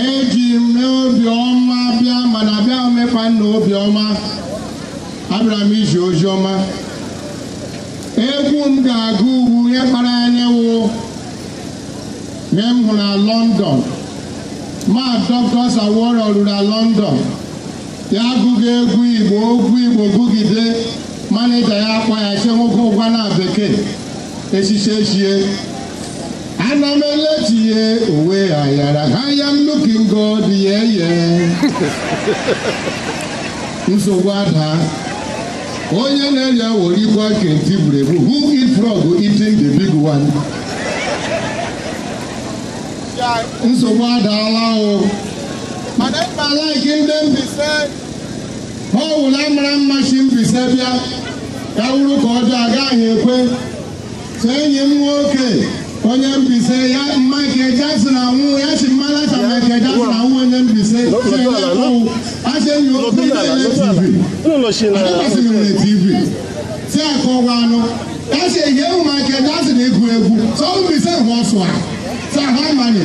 eji m n'obiọma bịa mana bịa mekwa n'obiọma abịara m izi ozi ọma egwu m ga-agụ ugwu ihe kpara anya wụ na m hụrụ na London ma Doctor Sir Warrior ruru na London ya agụga egwu Igbo egwu Igbo gụgide manịja ya akpọọ ya che nwoke gụwa na bekee echiche echie ana m eleti ya uwe ayara I am looking good ye ye nsogbu ada onye na-eri awọ rikwa nke nti buru ebu who eat frog eating the big one nsogbu adaala o mana mkpa like ndị Mbaise ọ wụla mara mma si Mbaise bịa ya wụrụ nke ọjọọ agaghị ekwe so enyi m nwoke onye Mbaise ya Michael Jackson anwụ ya sị mmara ka Michael Jackson anwụ onye Mbaise asị enyi okwu ị na-ele TV adịkwasịghị m na TV si akọwa anụ ya sị ehi ewu Michael Jackson egwu egwu so Mbaise hụ ọsụ a sa ha manye